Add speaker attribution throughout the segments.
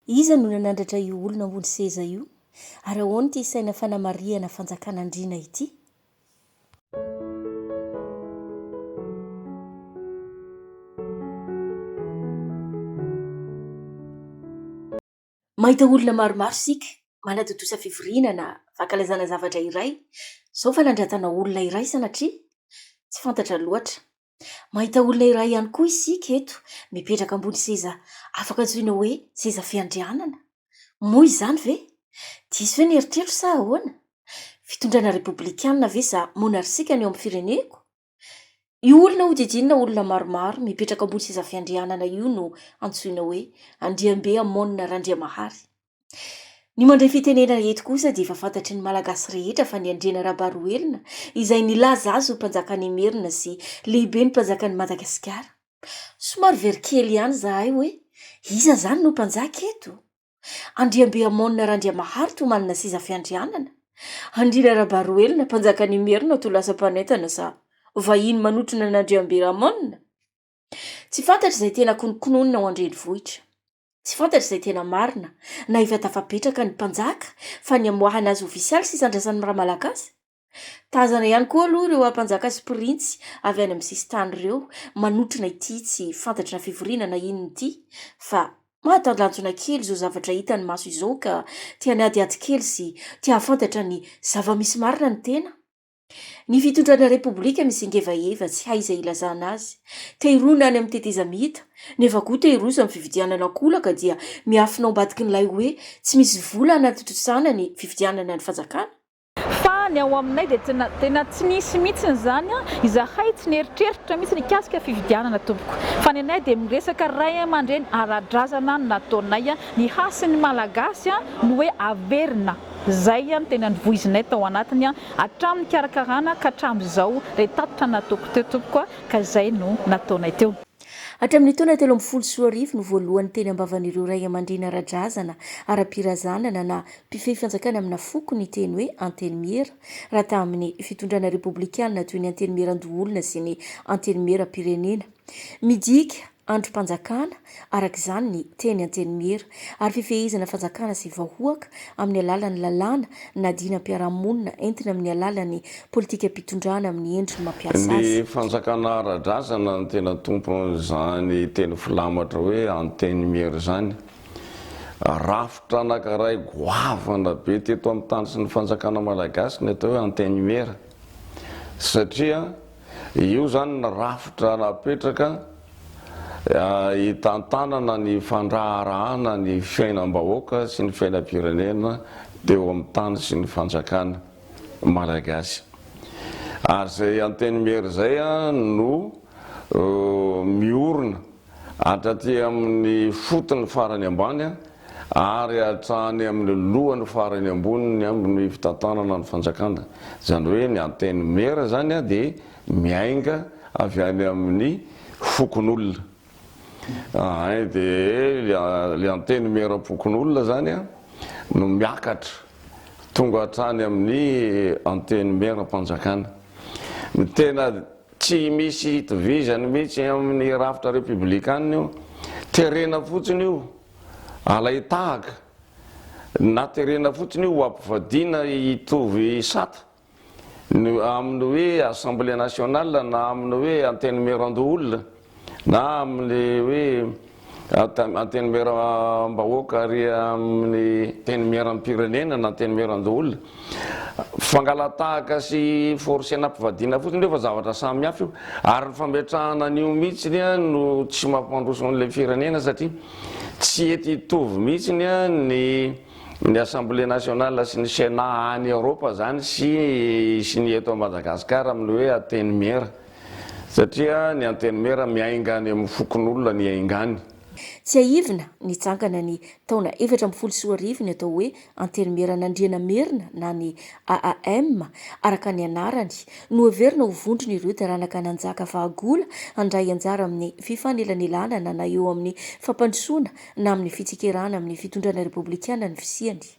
Speaker 1: Iza no nanandratra io olona ambony seza io, ary ahoana ity saina fanamarihana fanjakan'andriana ity? Mahita olona maromaro isika manatontosa fivoriana na fankalazana zavatra iray, izao fanandratana olona iray sanatria? Tsy fantatra loatra. Mahita olona iray ihany koa isika eto, mipetraka ambony seza afaka antsoina hoe seza fiandrianana. Moa izany ve? Diso ve ny eritreritro sa ahoana? Fitondrana repoblikana ve sa monarsika ny ao amin'ny fireneko? Io olona hodidinina olona maromaro mipetraka ambony seza fiandrianana io no antsoina hoe Andriambe Amon Randriamahary. Ny mandray fitenenana eto kosa dia efa fantatry ny Malagasy rehetra fa ny Andriana Rabaroelina izay nilaza azy ho mpanjakan'Imerina sy lehiben'ny mpanjakan'i Madagasikara. Somary very kely ihany izahay hoe iza izany no mpanjaka eto? Andriambeamônina Randriamahary to manana seza fiandrianana? Andriana Rabaroelina mpanjakan'Imerina to lasa mpanentana sa vahiny manotrona an'Andriamberamônina? Tsy fantatra izay tena konokononina ao an-drenivohitra. Tsy fantatra izay tena marina, na efa tafapetraka ny mpanjaka fa ny hamoahana azy ofisialy sy hisandrasan'ny maha-malagasy? Tazana ihany koa aloha ireo ampanjaka sy printsy avy any amin'ny sisintany ireo manotrona ity tsy fantatry na fivoriana na inona ity fa mahatalanjona kely izao zavatra hitan'ny maso izao ka te-hanadihady kely sy te-hahafantatra ny zava-misy marina ny tena. Ny fitondrana repoblika misingevaheva tsy hay izay ilazana azy. Tehirona any amin'ny tetezamita, nefa koa tehiroso amin'ny fividianana an-kolaka dia miafina ao ambadikin'ilay hoe tsy misy vola hanatontosana ny fividianana ny fanjakana? Fa ny ao
Speaker 2: aminay dia tena tsy nisy mihitsy izany, izahay tsy nieritreritra mihitsy nikasika fividianana tompoko. Fa ny anay dia miresaka ray aman-dreny ara-drazana no nataonay, ny hasin'ny malagasy no hoe averina. Izay no tena nivoizinay tao anatiny hatramin'ny nikarakarana ka hatramin'izao ilay tatitra nataoko teo tompoko a! ka izay no nataonay teo. Hatramin'ny taona
Speaker 1: telo ambin'ny folo sy roa arivo no voalohany teny am-bavan'ireo ray aman-dreny ara-drazana, ara-pirazanana na mpifehy fanjakana amina foko ny teny hoe Antenimiera raha tamin'ny fitondrana repoblikanina toy ny Antenimieran-doholona sy ny Antenimieram-pirenena. Midika. andrim-panjakana, araka izany ny teny Antenimiera, ary fifehezana fanjakana sy vahoaka amin'ny alalan'ny lalàna na dinam-piarahamonina entina amin'ny alalan'ny politikam-pitondrana amin'ny endriny mampiasa Ny azy. fanjakana
Speaker 3: ara-drazana no tena tompon'izany teny filamatra hoe Antenimiera izany. Rafitra anankiray goavana be teto amin'ny tany sy ny fanjakana malagasy ny atao hoe Antenimiera satria Io izany ny rafitra napetraka hitantanana ny fandraharahana ny fiainam-bahoaka sy ny fiainam-pirenena teo amin'ny tany sy ny fanjakana Malagasy. Ary izay Antenimiery izay no miorina. hatraty amin'ny fotony farany ambany ary hatrany amin'ny lohany farany ambony ny amin'ny fitantanana ny fanjakana. Izany hoe ny Antenimiera izany dia miainga avy any amin'ny fokonolona. Ahay dia ilay Antenimieram-pokonolona izany no miakatra tonga hatrany amin'ny Antenimieram-panjakana. Ny tena Tsy misy itovizany mihitsy amin'ny rafitra repoblikanina io. Terena fotsiny io alain-tahaka, na terena fotsiny io ho ampivadiana hitovy sata amin'ny hoe Assemblée nationale na amin'ny hoe Antenimierandoholona. Na amin'ny hoe antenimieram-bahoaka ary amin'ny antenimieram-pirenena na antenimieran-doholona. Fangalatahaka sy forcena am-pivadiana fotsiny io fa zavatra samy hafa io. Ary ny fametrahana an'io mihitsiny no tsy mampandroso an'ilay firenena satria tsy ety hitovy mihitsiny ny ny Assemblée nationale sy ny Sénat any Eoropa izany sy sy ny eto Madagasikara amin'ny hoe antenimiera. Satria ny Antenimiera miainga any amin'ny fokonolona ny haingany. Tsiahivina,
Speaker 1: nitsangana ny taona efatra ambin'ny folo sy roa arivo ny atao hoe Antenimieran'Andriana Merina na ny AAM, araka ny anarany, noheverina ho vondron'ireo taranaka nanjaka fahagola handray anjara amin'ny fifanelanelanana na eo amin'ny fampandrosoana na amin'ny fitsikerana amin'ny fitondrana repoblikanan'ny fisiany.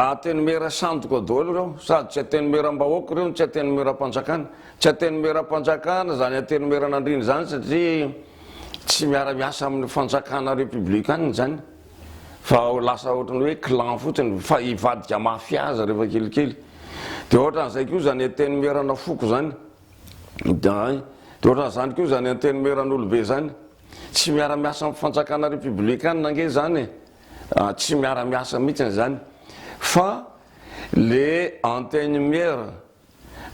Speaker 3: Antenimiera sandoka daholo ireo, sady tsy antenimieram-bahoaka ireo no tsy antenimieram-panjakana. Tsy antenimieram-panjakana izany antenimieran'Andriana izany satria tsy miara-miasa amin'ny fanjakana repoblikanina izany fa lasa ohatran'ny hoe clan fotsiny fa hivadika mafia aza rehefa kelikely. Dia ohatran'izay koa izany antenimierana foko izany. Dia ohatran'izany koa izany antenimieran'olobe izany. Tsy miara-miasa amin'ny fanjakana repoblikanina ange izany e. tsy miara miasa mihitsiny zany fa le antenimiera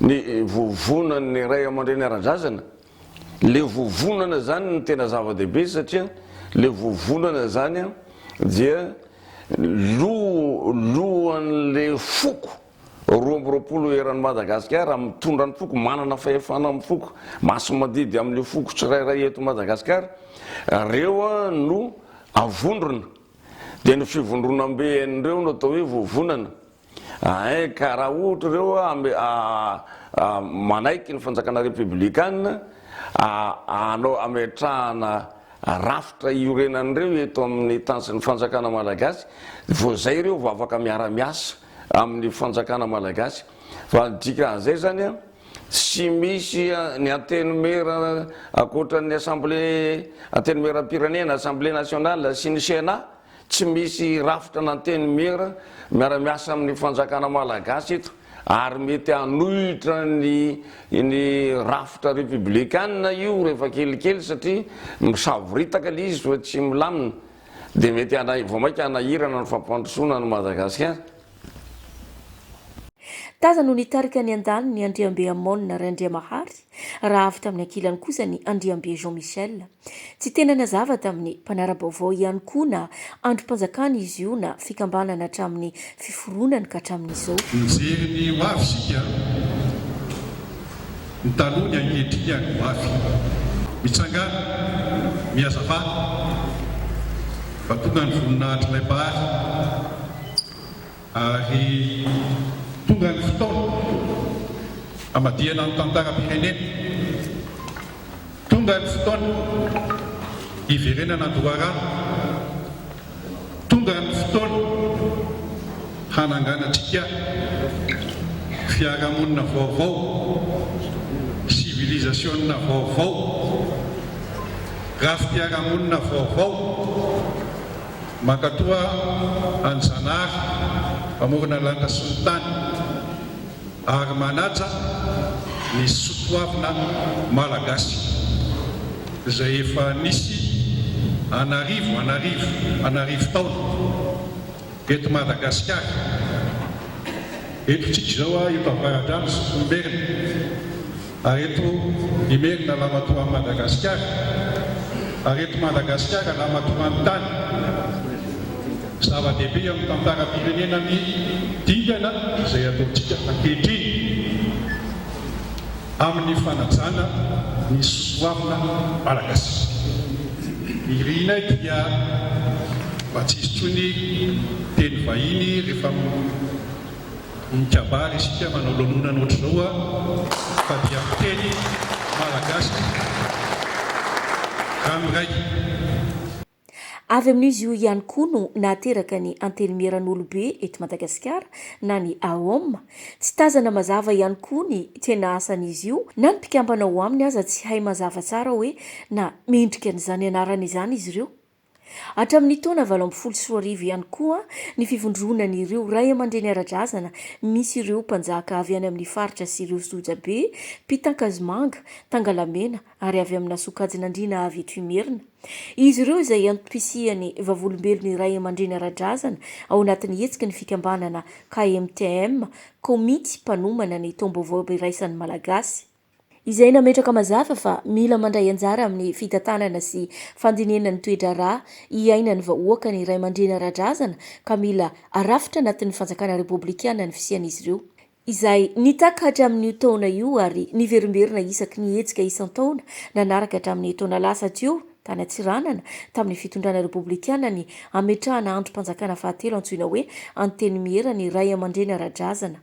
Speaker 3: ny vovonan'ny ray aman-dreny ara-drazana le vovonana zany ny tena zava-dehibe satria le vovonana zany dia lohan'le foko Roa amby roapolo eran'i Madagasikara mitondra ny foko, manana fahefana amin'ny foko, masi-madidy amin'ireo foko tsirairay eto Madagasikara, ireo no avondrona. Dia ny fivondronam-be an'ireo no atao hoe vovonana. Hay ka raha ohatra ireo manaiky ny fanjakana repiblikana hanao hametrahana rafitra hiorenan'ireo eto amin'ny tany sy ny fanjakana malagasy, vao izay ireo vao afaka miara-miasa. amin'ny fanjakana malagasy fa ny dikan'izay zany an tsy misy ny antenimiera ankoatran'ny assemblé antenimieram-pirenena assemblé nationale sy ny cena tsy misy rafitra an'antenimiera miara-miasa amin'ny fanjakana malagasy eto ary mety hanohitra ny ny rafitra républicaine io rehefa kelikely satria misavoritaka ilay izy fa tsy milamina Dia mety hana vao mainka hanahirana ny fampandrosoana an'i Madagasikara.
Speaker 1: Taza no nitarika ny andaniny Andriambe Amon Randriamahary raha avy tamin'ny ankilany kosa ny Andriambe Jean Michel. Tsy tena nazava tamin'ny mpanara-baovao ihany koa na androm-panjakana izy io na fikambanana hatramin'ny fiforonany ka hatramin'izao. Mijery ny ho
Speaker 4: avy isika, ny taloha, ny ankehitriny ary ny ho avy. Mitsangàna, mihazavana, vantoana ny voninahitr'ilay Mpahary ary tonga ny fotoana hamadihana ny tantaram-pirenena. Tonga ny fotoana hiverenana an-doharano. Tonga ny fotoana hananganantsika fiarahamonina vaovao, sivilizasiona vaovao, rafi-piarahamonina vaovao mankatoa an'i Zanahary mpamorona lanitra sy ny tany. ary manaja ny sotoavina malagasy izay efa nisy an'arivo an'arivo an'arivo taona eto Madagasikara, eto tsika izao, eto Avaradrano sy Tsitomberina. Ary eto Imerina Lamatoan'i Madagasikara, ary eto Madagasikara Lamatoan'ny tany. Zava-dehibe amin'ny tantaram-pirenena ny dingana izay ataontsika ankehitriny amin'ny fanajana ny soatoavina malagasy. Irinay dia mba tsy hisy intsony teny vahiny rehefa Mikabary isika manao lanonana ohatr'izao a! Fa dia miteny malagasy ranoiray.
Speaker 1: Avy amin'izy io ihany koa no nahateraka ny Antenimieran'Olobe eto Madagasikara na ny AOM. Tsy tazana mazava ihany koa ny tena asan'izy io na ny mpikambana ao aminy aza tsy hay mazava tsara hoe na mendrika an'izany anarana izany izy ireo Hatramin'ny taona valo ambin'ny folo sy roa arivo ihany koa ny fivondronan'ireo ray aman-dreny ara-drazana misy ireo mpanjaka avy any amin'ny faritra sy ireo sojabe mpitankazomanga, tangalamena ary avy amina sokajin'andriana avy eto Imerina. Izy ireo izay antom-pisian'ny Vavolombelon'ny ray aman-dreny ara-drazana ao anatin'ny hetsiky ny fikambanana KMTM, Komity mpanomana ny taom-baovao iraisan'ny Malagasy. izay nametraka mazava fa mila mandray anjara amin'ny fitantanana sy fandinihana ny toe-draharaha iainan'ny vahoaka ny ray aman-dreny ara-drazana ka mila arafitra anatin'ny fanjakana repoblikana ny fisian'izy ireo, izay nitaka hatramin'io taona io ary niverimberina isaky ny hetsika isan-taona nanaraka hatramin'ny taona lasa teo tany Antsiranana tamin'ny fitondrana repoblikana ny hametrahana andrim-panjakana fahatelo antsoina hoe Antenimiera ny ray aman-dreny ara-drazana.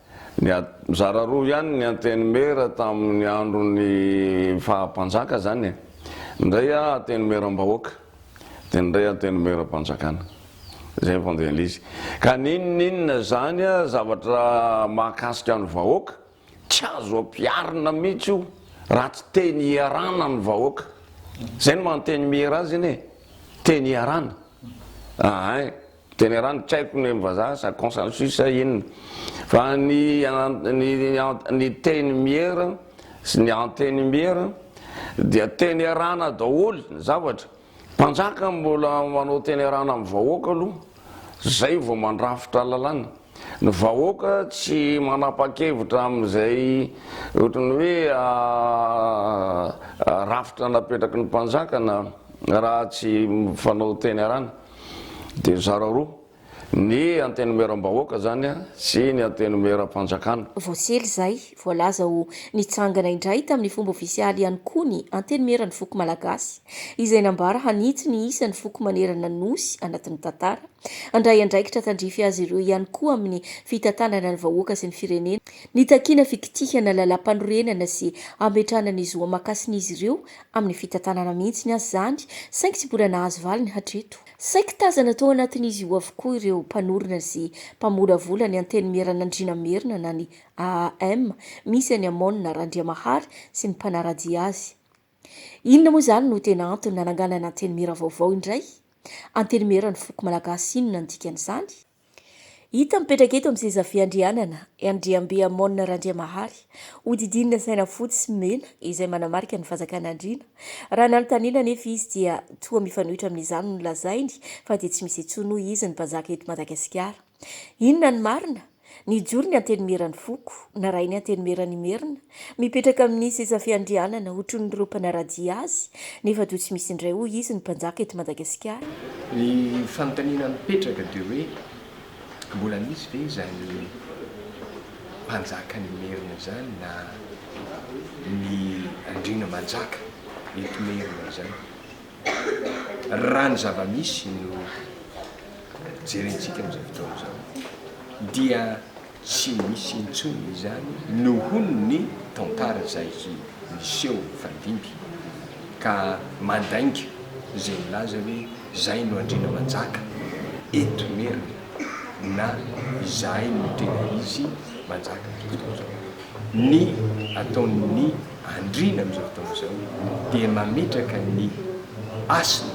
Speaker 3: Mizara roa ihany ny Antenimiera tamin'ny andron'ny faha mpanjaka zany e. Ny iray a Antenimieram-bahoaka, dia ny iray Antenimieram-panjakana. Izay ny fandehan'ilay izy. Ka n'inon'inona izany a, zavatra mahakasika ny vahoaka, tsy azo ampiharina mihitsy io raha tsy teny iarana ny vahoaka. Izay no maha Antenimiera azy anie e, teny iarana. Ahay. Generany tsy haiko ny amin'ny vazaha sa consensus sa inona fa ny ny teny miera sy ny antenimiera dia tenerana daholo ny zavatra. Mpanjaka mbola manao tenerana amin'ny vahoaka aloha zay vao mandrafitra lalàna. Ny vahoaka tsy manapa-kevitra amin'izay ohatran'ny hoe rafitra napetraky ny mpanjaka na raha tsy mifanao tenerana. dia mizara roa, ny Antenimieram-bahoaka izany sy ny Antenimieram-panjakana. Voasely izay,
Speaker 1: voalaza ho nitsangana indray tamin'ny fomba ofisialy ihany koa ny Antenimieran'ny foko malagasy, izay nambara hanitsy ny isan'ny foko manerana ny Nosy anatin'ny tantara, handray andraikitra tandrify azy ireo ihany koa amin'ny fitantanana ny vahoaka sy ny firenena, nitakiana fikitihana lalàmpanorenana sy hametrahana ny zo aman-kasin'izy ireo Amin'ny fitantanana mihitsy aza izany, saingy tsy mbola nahazo valiny hatreto. Saiky tazana tao anatin'izy io avokoa ireo mpanorina sy mpamolavola ny Antenimieranandriana Merina na ny AAM, misy an'i Amon Randriamahary sy ny mpanara-dia azy. Inona moa izany no tena antony nananganana Antenimiera vaovao indray? Antenimiera ny foko malagasy inona ny dikan'izany? Hita mipetraka eto amin'ny seza fiandrianana i Andriambe Amon Randriamahary, hodidinina saina fotsy sy mena izay manamarika ny fanjakan'Andriana. Raha nanontaniana anefa izy dia toa mifanohitra amin'izany no lazainy fa dia tsy misy intsony hoy izy ny mpanjaka eto Madagasikara. Inona ny marina? Nijoro ny Antenimieran'ny foko, narahin'ny Antenimieran'Imerina, Mipetraka amin'ny seza fiandrianana otronyireo mpanaradia azy nefa toa tsy misy indray hoy izy ny mpanjaka eto Madagasikara. Ny
Speaker 5: fanontaniana mipetraka dia hoe mbola misy ve izany mpanjakan'ny merina izany na ny andriana manjaka eto merina izany. Raha ny zava-misy no jerentsika amin'izao fotoana izao dia. Tsy misy intsony izany nohon'ny tantara izay miseho mifandimby ka mandainga izay milaza hoe zay no andriana manjaka eto Imerina na izahay no tena izy manjaka amin'izao fotoana izao. Ny ataon'ny andriana amin'izao fotoana izao dia mametraka ny hasina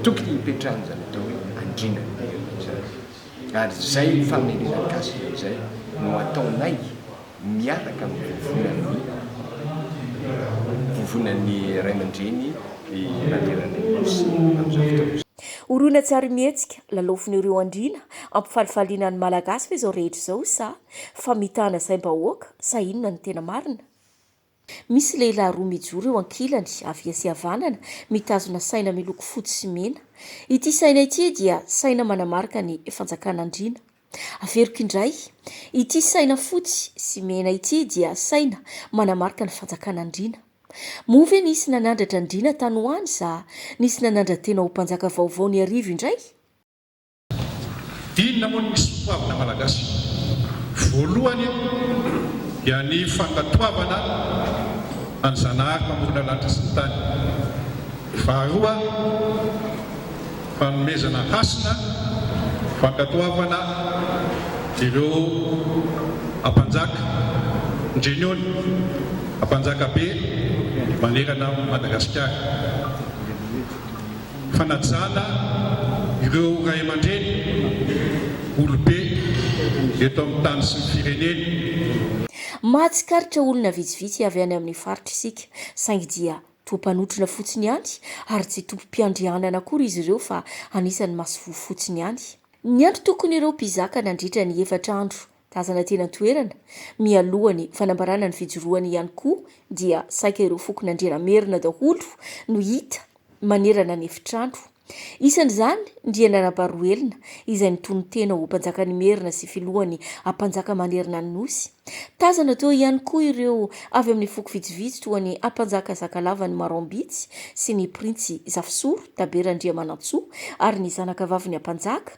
Speaker 5: tokony hipetrahan'izany atao hoe andrianan'Imerina izany. Ary izay famelena gasy izay no ataonay miaraka amin'ny vovonan'ny vovonan'ny ray aman-dreny i Randriananirinosy amin'izao fotoana izao. Horoina tsy ary
Speaker 1: mihetsika, lalaofin'ireo andriana ampifalifaliana ny Malagasy ve izao rehetra izao sa famitahana saim-bahoaka sa inona no tena marina? Misy lehilahy roa mijoro eo ankilany, havia sy havanana, mitazona saina miloko fotsy sy mena. Ity saina ity dia saina manamarika ny fanjakan'andriana. Averiko indray, ity saina fotsy sy mena ity dia saina manamarika ny fanjakan'andriana. Moa ve nisy nanandratra andriana tany ho any sa nisy nanandra-tena ho mpanjaka vaovao niarivo indray?
Speaker 4: Inona moa ny soatoavina malagasy? Voalohany dia ny fankatoavana an'i Zanahary mpamorona lanitra sy ny tany. Faharoa, fanomezana hasina, fankatoavana ireo Ampanjaka, Ndrenony, Ampanjaka be manerana an'i Madagasikara. fanajana ireo ray aman-dreny olobe eto amin'ny tany sy ny firenena.
Speaker 1: Mahatsikaritra olona vitsivitsy
Speaker 4: avy
Speaker 1: any amin'ny faritra isika, saingy dia toa mpanotrona fotsiny ihany ary tsy tompom-piandrianana akory izy ireo fa anisan'ny masoivoho fotsiny ihany. Ny antony tokony ireo mpizaka nandritra ny efatra andro Tazana teny an-toerana, mialoha ny fanambarana ny fijoroany ihany koa dia saika ireo fokon'Andrianamerina daholo no hita manerana ny efitrano. Isan'izany Ndriana Rabaroelina izay nitonon-tena ho Mpanjakan'Imerina sy Filohan'ny Ampanjaka manerana ny Nosy. Tazana teo ihany koa ireo avy amin'ny foko vitsivitsy toa ny Ampanjaka Zakalavan'i Maroambitsy sy ny Printsy Zafisoro Tabe Randriamanantsoa ary ny zanakavavin'ny Ampanjaka,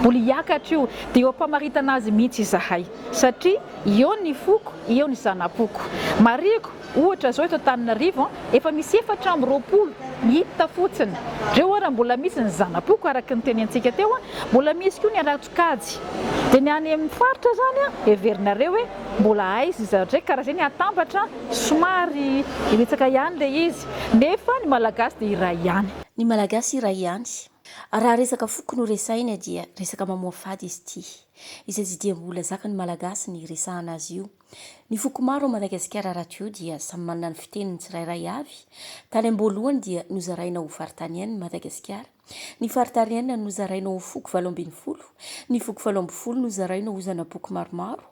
Speaker 2: Mbola hiakatra io, dia eo am-pamaritana azy mihitsy izahay. Satria eo ny foko, eo ny zana-poko. Marihiko, ohatra izao eto Antananarivo, efa misy efatra amby roapolo, hita fotsiny. Reo ary mbola misy ny zana-poko, araka ny tenentsika teo, mbola misy koa ny ara-tsokajy. Dia ny any amin'ny faritra izany, heverinareo hoe mbola aiza izy ireo? Ka raha izay ny hatambatra, somary hiritsaka ihany ilay izy. Nefa ny Malagasy dia iray ihany. Ny Malagasy iray
Speaker 1: ihany. Raha resaka foko no resahina dia resaka mamoafady izy ity, izay tsy dia mbola zakan'ny Malagasy ny hiresahana azy io. Ny foko maro ao Madagasikara raha toa eo dia samy manana ny fiteniny tsirairay avy. Tany am-boalohany dia nozaraina ho faritanian'i Madagasikara. Ny faritariana nozaraina ho foko valo ambin'ny folo. Ny voko valo ambin'ny folo nozaraina ho zana-poko maromaro,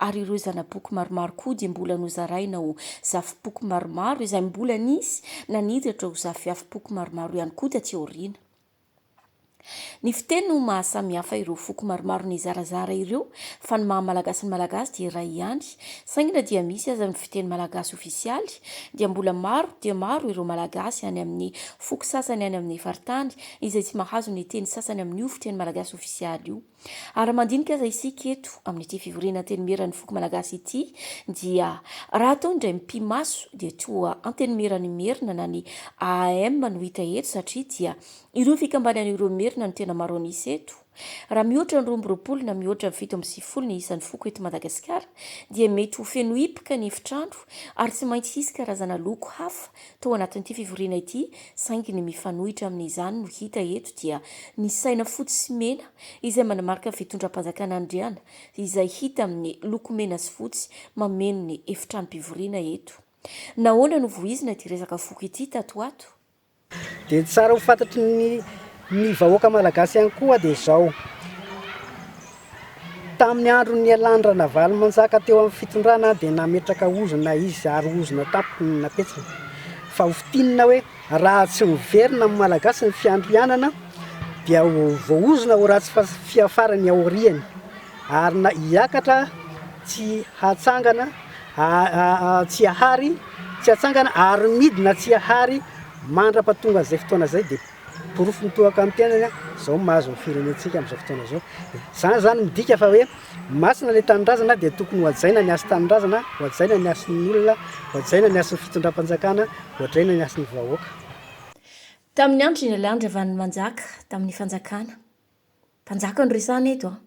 Speaker 1: ary ireo zana-poko maromaro koa dia mbola nozaraina ho zafim-poko maromaro, izay mbola nisy naniratra ho zafiafim-poko maromaro ihany koa taty aoriana. Ny fiteny no maha samihafa ireo foko maromaro nizarazara ireo, fa ny maha malagasy ny malagasy dia iray ihany, saingy na dia misy aza ny fiteny malagasy ofisialy, dia mbola maro dia maro ireo malagasy any amin'ny foko sasany any amin'ny faritany izay tsy mahazo ny teny sasany amin'io fiteny malagasy ofisialy io. Ary raha mandinika aza isika eto amin'ity fivoriana Antenimieran'ny foko malagasy ity dia raha atao indray mipi-maso dia toa Antenimieran'ny Merina na ny AAM no hita eto satria dia ireo fikambanana ireo Merina no tena maro an'isa eto. Raha mihoatra ny roa amby roapolo na mihoatra ny fito amby sivifolo ny isan'ny foko eto Madagasikara dia mety ho feno hipoka ny efitrano ary tsy maintsy hisy karazana loko hafa tao anatin'ity fivoriana ity saingy ny mifanohitra amin'izany no hita eto dia ny saina fotsy sy mena izay manamarika fitondram-panjakana Andriana izay hita amin'ny loko mena sy fotsy mameno ny efitranom-pivoriana eto. Nahoana no voizina ity resaka foko ity tato ho ato? Dia
Speaker 6: tsara ho fantatry ny ny vahoaka malagasy ihany koa dia izao, tamin'ny andron'ny nialan'ny Ranavalomanjaka teo amin'ny fitondrana dia nametraka ozona izy ary ozona tampoka no napetrany, fa ho fintinina hoe raha tsy miverina amin'ny malagasy ny fiandrianana dia ho voaozona ho ratsy fiafara ny aoriany ary na hiakatra tsy hatsangana Tsiahary, tsy atsangana ary midina Tsiahary mandrapa tonga an'izay fotoana izay dia porofo mitohaka amin'ny tenany izao mahazo ny firenentsika amin'izao fotoana izao. Izany izany midika fa hoe masina ilay tanindrazana dia tokony hohajaina ny hasin'ny tanindrazana, hohajaina ny hasin'ny olona, hohajaina ny hasin'ny fitondram-panjakana, hohajaina ny hasin'ny vahoaka.
Speaker 1: Tamin'ny andron'Ingaly Andry Ravalomanjaka, tamin'ny fanjakana. Mpanjaka no resahana eto an!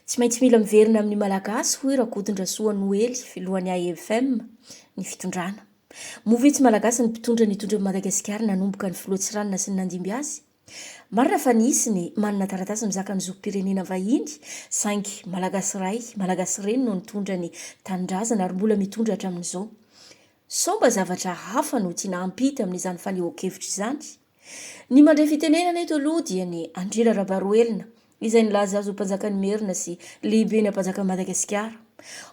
Speaker 1: Tsy maintsy mila miverina amin'ny Malagasy hoy Rakotondrasoa Noely filohan'ny AEFM ny fitondrana. Moa ve tsy Malagasy ny mpitondra nitondra an'i Madagasikara nanomboka ny filoha Tsiranana sy ny nandimby azy? Marina fa nisy ny manana taratasy mizaka ny zom-pirenena vahiny saingy Malagasy ray, Malagasy reny no nitondra ny tanindrazana ary mbola mitondra hatramin'izao. Sao mba zavatra hafa no tiana hampita amin'izany fanehoan-kevitra izany? Ny mandre fitenenana eto aloha dia ny Andriana Rabaroelina izay nilaza azy ho Mpanjakan'Imerina sy Lehiben'ny Ampanjakan'i Madagasikara.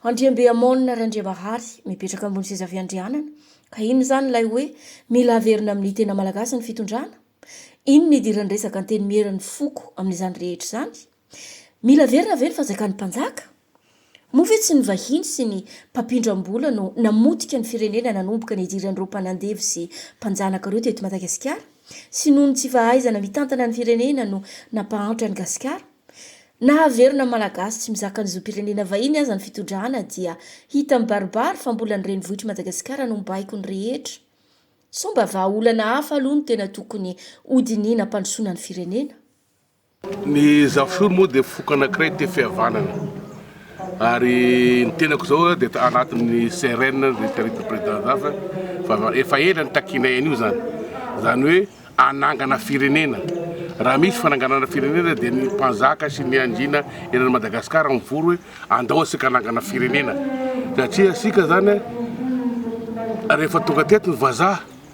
Speaker 1: Andriambeamônina Randriabahary mipetraka ambony seza fiandrianana. Ka inona izany ilay hoe mila averina amin'ny tena malagasy ny fitondrana? Inona idiran'ny resaka Antenimieran'ny foko amin'izany rehetra izany? Mila averina ve ny fanjakan'ny mpanjaka? Moa ve tsy ny vahiny sy ny mpampindram-bola no namotika ny firenena nanomboka ny hidiran'ireo mpanandevo sy mpanjanaka ireo teto Madagasikara? Sy noho ny tsy fahaizana mitantana ny firenena no nampahantra an'i Gasikara? Na averina ny Malagasy tsy mizaka ny zom-pirenena vahiny aza ny fitondrana dia hita mibaribary fa mbola ny renivohitr'i Madagasikara no mibaiko ny rehetra? Sao mba vahaolana hafa aloha no tena tokony hodinihina hampandrosoana ny firenena? Ny
Speaker 7: Zafiro moa dia foko anankiray tefi havanana ary ny tenako zao dia anatin'ny CRN ny Territory Président Zafa fa efa ela nitakianay an'io zany, zany hoe hanangana firenena, raha misy fananganana firenena dia ny mpanjaka sy ny andriana eran'i Madagascar mivory hoe andao asika hanangana firenena satria asika zany rehefa tonga teto ny vazaha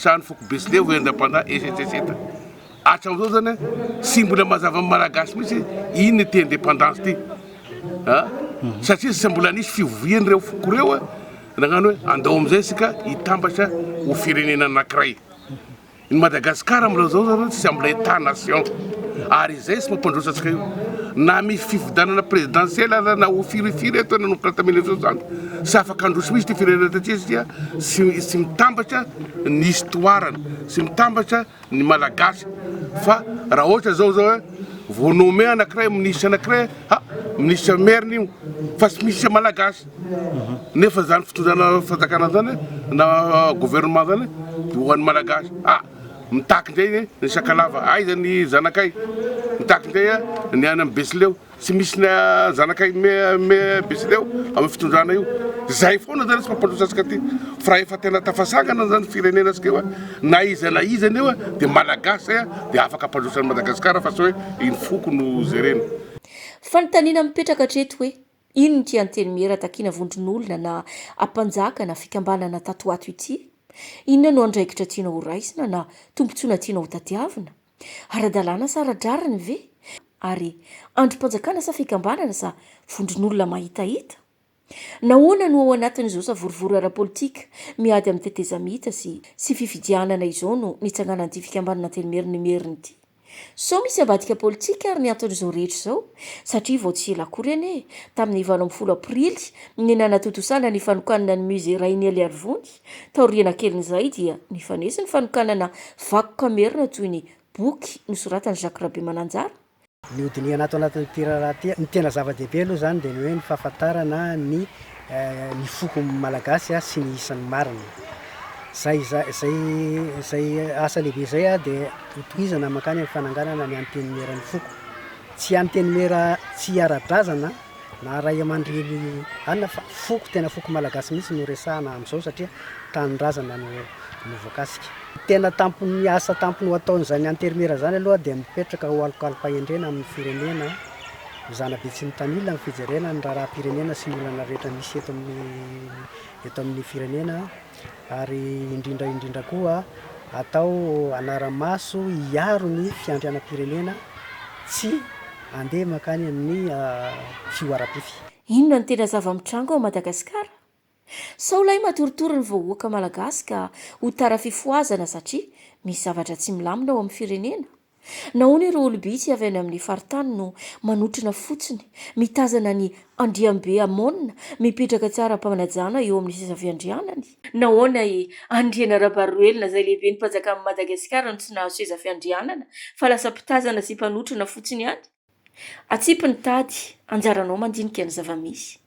Speaker 7: Trano foko Besilevo eny Andrapanahy Esetreseta hatramin'izao zany a tsy mbola mazava amin'ny Malagasy mihitsy iny ny te independance ty a satria tsy mbola nisy fivovian'ireo foko ireo a nagnano hoe andao amin'izay isika hitambatra ho firenena anankiray ny Madagascar amin'izao zao zany tsy mbola état nation ary izay tsy mampandroso antsika io na misy fifidianana présidentielle aza na ho firifiry eto nanomboka tamin'ny mille neuf cent soixante Tsy afaka handroso mihitsy ity firenena taty satria tsy mitambatra ny histoirany, tsy mitambatra ny Malagasy fa raha ohatra zao zao hoe vao nommé anakiray minisitra anakiray ha minisitra merina io fa tsy misy Malagasy nefa zany fitondrana fanjakana zany na gouvernement zany dia ho an'ny Malagasy ah mitaky indray ny Sakalava aiza ny zanakay mitaky indray ny any amin'ny Betsileo Tsy misy ny zanakay mihbeside ao amin'ny fitondrana io. Izay foana zany tsy mampandroso antsika aty. Fa raha efa tena tafasangana zany ny firenena antsika io a, na iza na iza anie eo a, dia Malagasy izay a, dia afaka hampandroso an'i Madagasikara fa tsy hoe iny foko no jerena. Fanontaniana
Speaker 1: mipetraka hatreto hoe, inona ity Antenimiera takiana vondron'olona na ampanjaka na fikambanana tato ho ato ity? Inona no andraikitra tianao horaisina na tombontsoana tianao hotadiavina? Ara-dalàna sa ara-drariny ve? Ary andrim-panjakana sa fikambanana sa vondron'olona mahitahita? Nahoana no ao anatin'izao savorovoro ara-politika miady amin'ny tetezamita sy sy fifidianana izao no nitsanganan'ity fikambanana telo merin'Imerina ity? Sao misy ambadika politika ary ny anton'izao rehetra izao? Satria vao tsy ela akory anie, tamin'ny valo ambin'ny folo aprily, ny nanatontosana ny fanokanana ny Musée Rainier Liarivony, Taoriana kelin'izay dia nifanesy ny fanokanana vakoka merina toy ny boky nosoratan'i Jacques Rabemananjara, Ny hodinihana
Speaker 6: ato anatin'ity raharaha ity, ny tena zava-dehibe aloha izany dia ny hoe ny fahafantarana ny ny foko malagasy sy ny isany marina. Izay izay izay asa lehibe izay dia hotohizana mankany amin'ny fananganana ny antenimiera ny foko. Tsy antenimiera tsy ara-drazana. na ray aman-dreny anona fa foko tena foko malagasy mihitsy no resahana amin'izao satria tanindrazana no no voakasika. Ny tena tampon'ny asa tampony ho ataon'izany anterimera izany aloha dia mipetraka ho alokalom-pahendrena amin'ny firenena ho zanabe tsy mitanila amin'ny fijerena ny raharaham-pirenena sy ny olana rehetra misy eto amin'ny eto amin'ny firenena, ary indrindra indrindra koa atao anara-maso hiaro ny fiandrianam-pirenena tsy handeha mankany amin'ny fihoaram-pify. Inona no tena
Speaker 1: zava-mitranga ao Madagasikara? Sao lay matoritory ny vahoaka malagasy ka ho tara fifohazana satria misy zavatra tsy milamina ao amin'ny firenena? Nahoana ireo olom-bitsy avy any amin'ny faritany no manotrona fotsiny, mitazana ny Andriambe Amona mipetraka tsy ara-panajana eo amin'ny seza fiandrianany? Nahoana i Andriana Rabaroelina izay lehiben'ny Mpajakan'i Madagasikara no tsy nahazo seza fiandrianana fa lasa mpitazana sy mpanotrona fotsiny ihany? Atsipy ny tady, anjaranao mandinika ny zava-misy.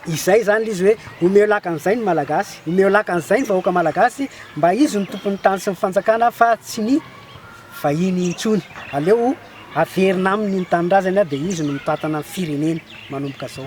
Speaker 6: Izay izany ilay izy hoe omeo laka an'izay ny Malagasy, omeo laka an'izay ny vahoaka Malagasy mba izy no tompon'ny tany sy ny fanjakana fa tsy ny vahiny intsony. Aleo averina aminy ny tanindrazany dia izy no mitantana ny fireneny manomboka izao.